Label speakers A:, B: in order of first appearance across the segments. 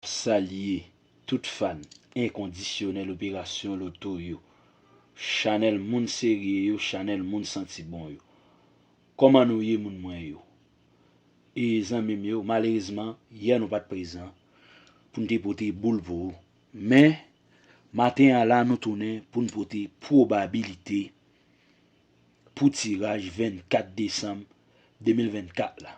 A: Salye tout fan enkondisyonèl operasyon loto yo, chanèl moun serye yo, chanèl moun santi bon yo. Kòman nou ye moun mwen yo? E zanmi m yo, malerezman yè nou pat prezan pou n te pote boul pou ou. Men, maten an la nou tounen pou n pote pwobabilite pou tiraj 24 desanm 2024 la.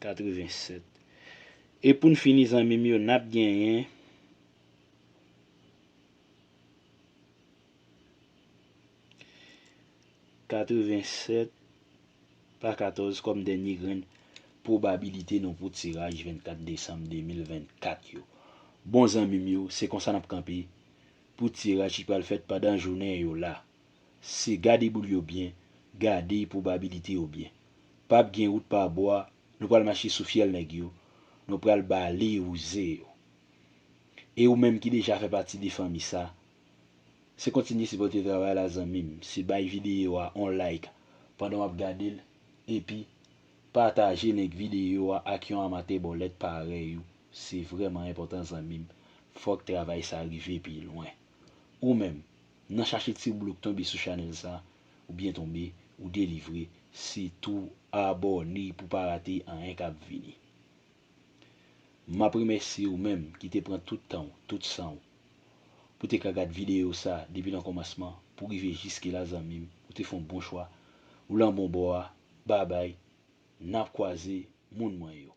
A: 87 e poun fini zanmim yo nap genyen Katrevensèt pa katòz kòm dènye grenn pwobabilite nou pou tiraj 24 desanm 2024 yo bon zanmim yo se konsa nap kanpe pou tiraj ki pral fèt pandan jounen yo la. se gade boul yo byen, gade pwobabilite yo byen. Pap gen wout pa bwa, nou pral mache sou fyèl nèg yo, nou pral bale wouze yo. E ou menm ki deja fè pati de fanmi sa, se kontinye sipòte travay la zanmim, se bay videyo a on like pandan wap gadel epi pataje link videyo a ak yon amatè bòlèt parèy ou, se vrèman enpòtan zanmim, fòk travay sa rive pi lwen. Ou menm, nan chache ti blo k tonbe sou chanèl sa, ou byen tonbe, ou delivre, sitou abòne pou pa rate anyen kap vini. Map remèsye ou menm ki te pran tout tan w, tout san w, pou te ka gad videyo sa depi nan kòmansman pou rive jiske la zanmi m, ou te fon bon chwa, ou lan bon bò a, babay, nap kwaze moun mwen yo.